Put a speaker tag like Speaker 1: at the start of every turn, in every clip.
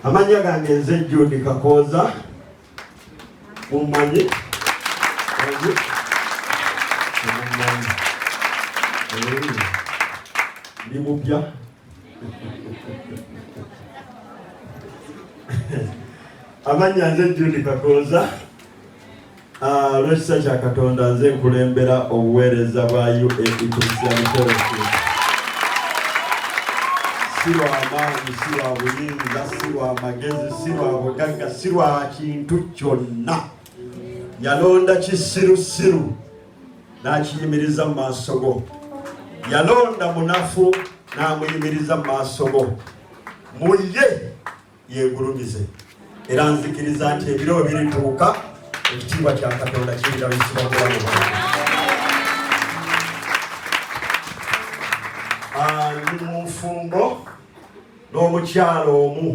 Speaker 1: amannya gange nze judi kakooza mummanyi ndi mupya amannya nze judi kakooza Ah, olw'ekisa kya katonda nze nkulembera obuweereza bwa uac christian fellowship si lwa maanyi si lwa buyinza si lwa magezi si lwa bugagga si lwa kintu kyonna yalonda kisirusiru n'akiyimiriza mu maaso go yalonda munafu n'amuyimiriza mu maaso go mu ye yegulumize era nzikiriza nti ebiro birituuka ekitiibwa kya katonda kirirawisibwa mubulamu bwange ah, ndi mu nfumbo n'omukyalo omu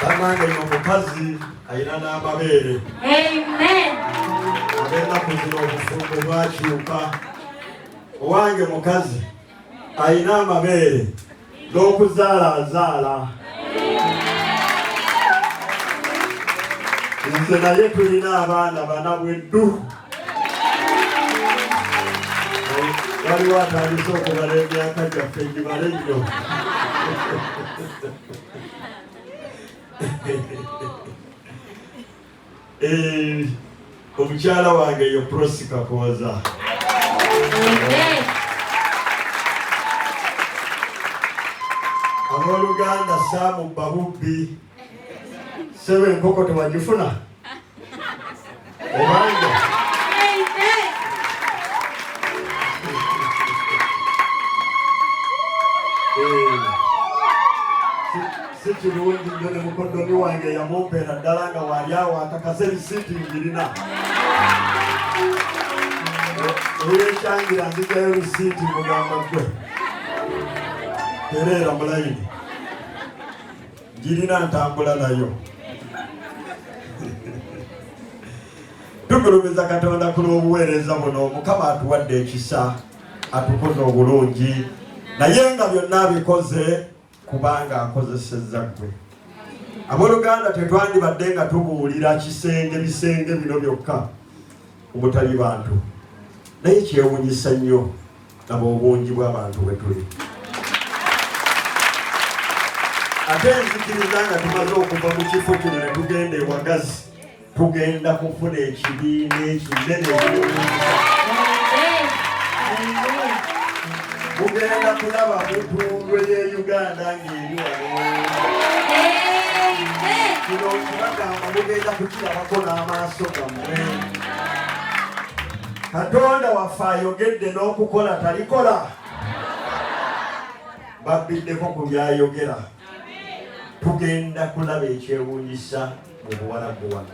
Speaker 1: banange no omukazi alina n'amabeere
Speaker 2: abenaku
Speaker 1: zino obufumbo bwakyuka owange mukazi alina amabeere n'okuzaala azaala nze naye tulina abaana bana bweddu waliwo atandise okubala emyaka gyaffe gibale nnyo Eh, omukyala wange yo prosi kakooza abooluganda saamu babubbi sebo enkoko tewagifuna obanja si kirungi nyo ne mukoddomi wange yamumpeera ddala nga waali awo akakaza ebisiiti ngirina olwekyangira nzijayo lusiiti mugamba gwe tereera mulayini ngirina ntambula nayo tugulumiza katonda ku lw'obuweereza buno mukama atuwadde ekisa atukoze obulungi naye nga byonna abikoze kubanga akozesezza ggwe aboluganda tetwandibadde nga tubuulira kisenge bisenge bino byokka omutali bantu naye kyewunyisa nnyo naba obungi bw'abantu bwe tuli ate nzikiriza nga tumaze okuva mu kifo kino ne tugenda ewagazi tugenda kufuna ekibiina ekinene mugenda kulaba mutundwe ye uganda ng'eri kino kibagamba mugenda kukirabako n'amaaso gammwe katonda waffe ayogedde n'okukola talikola babbiddeko ku byayogera tugenda kulaba ekyewuunyisa mu buwalabu wano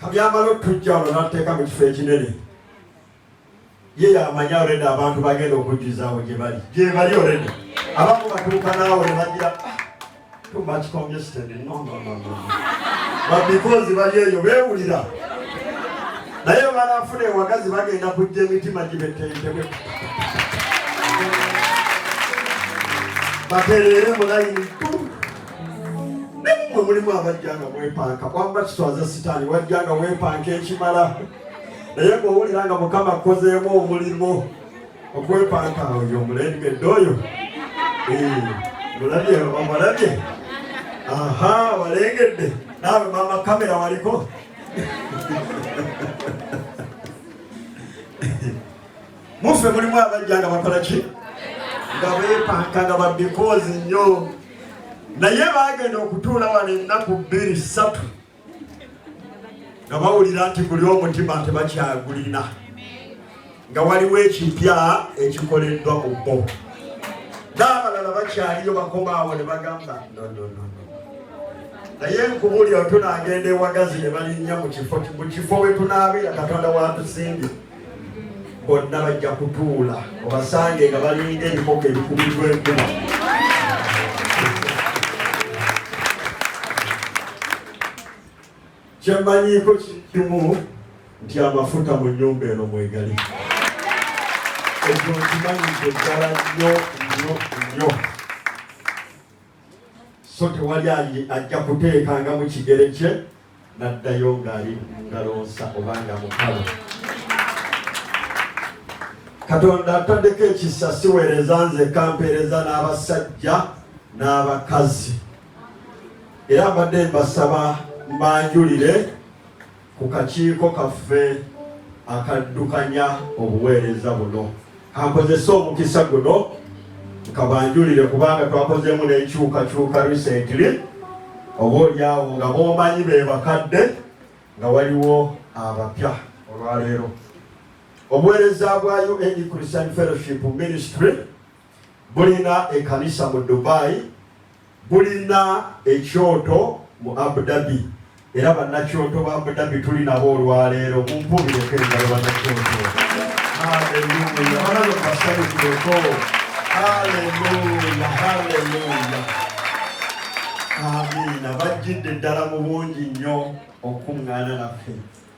Speaker 1: kabyambala otujja wano nateeka mu kifo ekinene ye yamanyi already abantu bagenda okujjuzaawo gyebali gyebali already abamu batuuka naawe nebagira ah, too much congested no no no no but because bali eyo bewulira naye banaafuna ewagazi bagenda kujja emitima gibetentebwe batereere mulayini nemwe mulimu abajja nga mwepanka kwamba kitwaza sitaani wajja nga wepanka ekimala naye ngowulira nga mukama akozeemu omulimu okwepanka oyo omulengedde oyo mulabye omulabye aha walengedde naawe mama kamera waliko muffe mulimu abajja nga bakola ki nga bepanka nga babikoozi nnyo naye bagenda okutuula wano ennaku bbiri ssatu nga bawulira nti guli omutima tebakyagulina nga waliwo ekipya ekikoleddwa ku bo n'abalala bakyaliyo bakomaawo ne bagamba nonono naye nkubuli otunagenda ewagazi ne balinnya mu kifo mu kifo we tunaabira katonda watusimbye bonna bajja kutuula obasange nga balinga ebikoka ebikubirwa enkuba kyemmanyiiko kiri kimu nti amafuta mu nnyumba eno mwegali ekyo nkimanyize ddala nnyo nnyo nnyo so tewali ajja kuteekanga mu kigere kye n'addayo ng'ali ngalonsa oba nga mukalo katonda ataddeko ekisa siweereza nze kampeereza n'abasajja n'abakazi era mbadde mbasaba mbanjulire ku kakiiko kaffe akaddukanya obuweereza buno kankozese omukisa guno nkabanjulire kubanga twakozeemu n'enkyukakyuka recently oba olyawo nga bomanyi be bakadde nga waliwo abapya olwaleero obuweereza bwa un christian fellowship ministry bulina ekanisa mu Dubai, bulina ekyoto mu Abu Dhabi era bannakyoto ba Abu Dhabi tuli nabo olwaleero mumpubireko engalo bannakyoto. Haleluya, balabe basanyukireko. Haleluya, haleluya. Amiina, bajjidde ddala mu bungi nnyo okuŋŋaana naffe.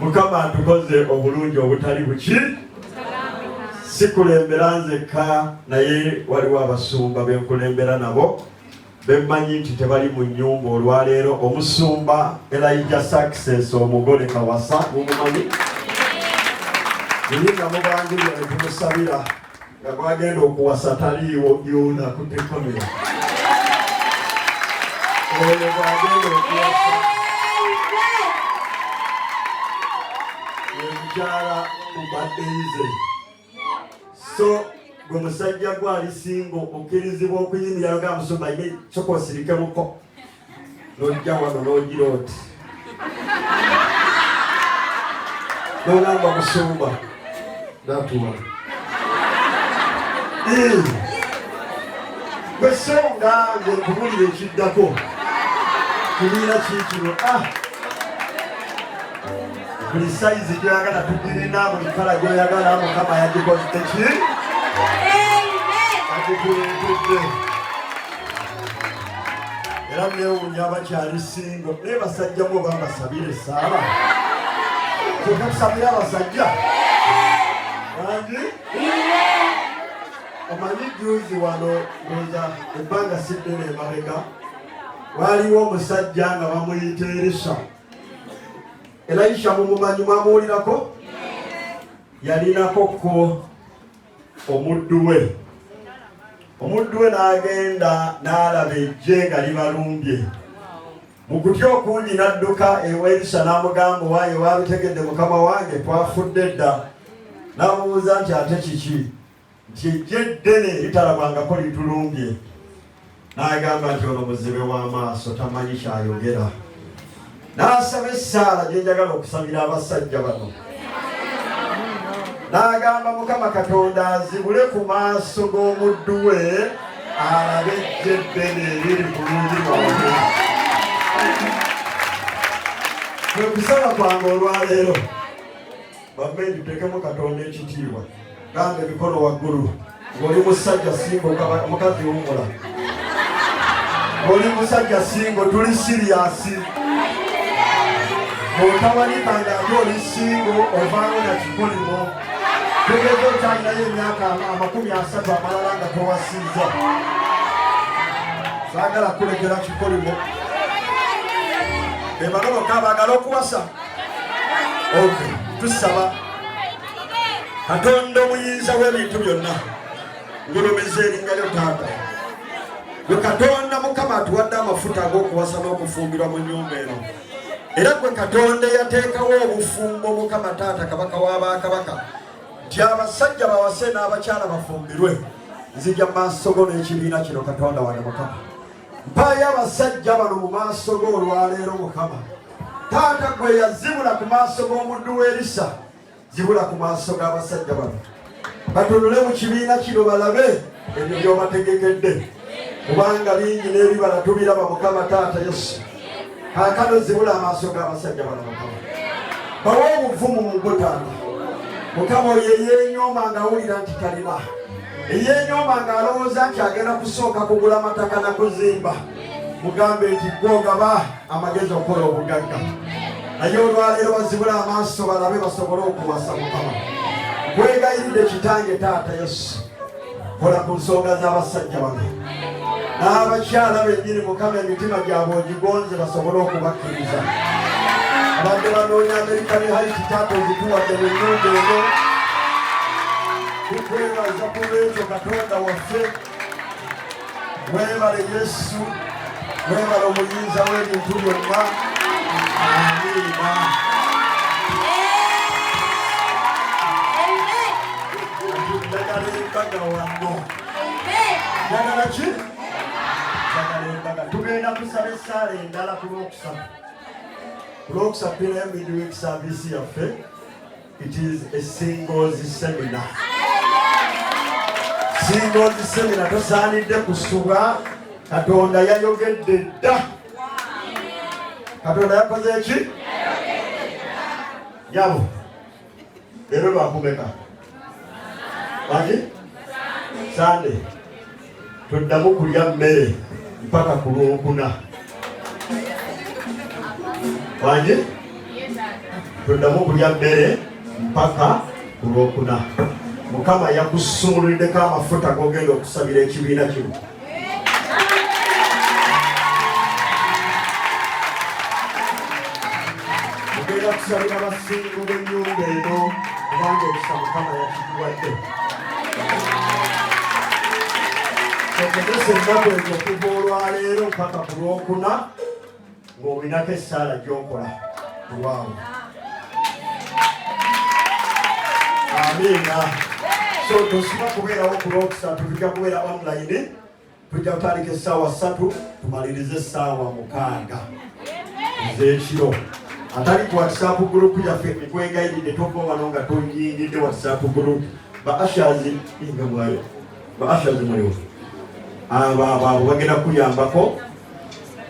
Speaker 1: mukama atukoze obulungi obutali buki sikulembera nzekka naye waliwo abasumba benkulembera nabo bemmanyi nti tebali mu nyumba olwaleero omusumba elaija success omugole kawasa mumumanyi naye nga mubangulira netumusabira nga gwagenda okuwasa taliiwo yona kutekomera oyo gwagenda okuwasa emukyala mubadeize so gwe musajja gwali singo okkirizibwa okuyimiranga musumba ine kyokosirikemuko nojja wano nogira oti nogamba musumba natuwa wesonga nge nkubulira ekiddako kibiina kiikino ah! buli sayizi gyoyagala tugirina buli kala gyoyagala mukama yagikoziteki agikuleetedde era newunya abakyali singo naye basajja mu bambasabire esaala kyeka tusabire abasajja bangi omanyi juzi wano ndoza ebbanga siddene emabega waliwo omusajja nga bamuyita erisa elayisha mumumanyi mwamuwulirako yalinako ko omuddu we omuddu we n'agenda n'alaba ejje nga libalumbye mu kutya okungi n'adduka ewa erisa n'amugamba owaye waabitegedde mukama wange twafudde dda n'amubuuza nti ate kiki nti ejje ddene litalabwangako litulumbye n'agamba nti ono muzibe w'amaaso tamanyi kyayogera n'asaba essaala gye njagala okusabira abasajja bano n'agamba mukama katonda azibule ku maaso g'omuddu we alabe ejje eddene eriri ku lungi lwange kwe kusaba kwange olwaleero bambe ndutekemu katonda ekitiibwa gamba emikono waggulu ng'oli musajja singo mukazi wumula ng'oli musajja singo tuli siriyasi bw'otawalikanga ate oli singo ovaawo na kikolimo tegeza okyalinayo emyaka amakumi asatu amalala nga towasiiza saagala kulekera kikolimo bebano bokka bagala okuwasa ok tusaba katonda omuyinza w'ebintu byonna ngulumiza eringalyo taata gwe katonda mukama atuwadde amafuta ag'okuwasa n'okufumbirwa mu nyumba eno era gwe katonda eyateekawo obufumbo mukama taata kabaka w'abakabaka nti abasajja bawase n'abakyala bafumbirwe nzija mu maaso go n'ekibiina kino katonda wange mukama mpaayo abasajja bano mu maaso go olwaleero mukama taata gwe yazibula ku maaso g'omuddu w'erisa zibula ku maaso g'abasajja bano batunule mu kibiina kino balabe ebyo byobategekedde kubanga bingi n'ebibala tubiraba mukama taata yesu kakano zibula amaaso g'abasajja bano mukama bawa obuvumu mu gutanda mukama oyo eyenyooma ng'awulira nti talina eyenyooma ng'alowooza nti agenda kusooka kugula mataka na kuzimba mugambe nti gwogaba amagezi okukola obugagga naye olwaleero bazibula amaaso balabe basobole okuwasa mukama kwegayiridde kitange taata yesu kola ku nsonga z'abasajja bano n'abakyala bennyini mukama emitima gyabwe ogigonze basobole okubakkiriza abadde banoonya amerika ne haiti taata ozituwadde mu nyumba eno tukwebaza ku lwekyo katonda waffe Mwebale Yesu, mwebale omuyinza w'ebintu byonna. Amiina. Njagala embaga wano. Njagala ki? Njagala embaga. Tugenda kusaba essaala endala ku lwokusatu. Ku lwokusatu tunayo midweek service yaffe. It is a singles seminar. Singles seminar tosaanidde kusubwa Katonda yayogedde dda. Katonda yakoze ki? Nyabo. Leero lwakumeka. Baki? Sunday. toddamu kulya mmere mpaka ku lwokuna wangi toddamu kulya mmere mpaka ku lwokuna mukama yakusumululiddeko amafuta gogenda okusabira ekibiina kino mugenda kusabira abasingo b'enyumba eno kubanga ekisa mukama yakikuwadde okugesa ennaku ezo okuva olwaleero mpaka ku lwokuna ng'olinako essaala gyokola kulwawo amiina so tosiba kubeerawo ku lwokusatu tujja kubeera online tujja kutandika essaawa ssatu tumalirize essaawa mukaaga ez'ekiro atali ku whatsapp group yaffe ekwegayiride tokoowano nga toyingidde whatsapp group ba ashazi inga mwayo ba ashazi muliwo abo abo abo bagenda kuyambako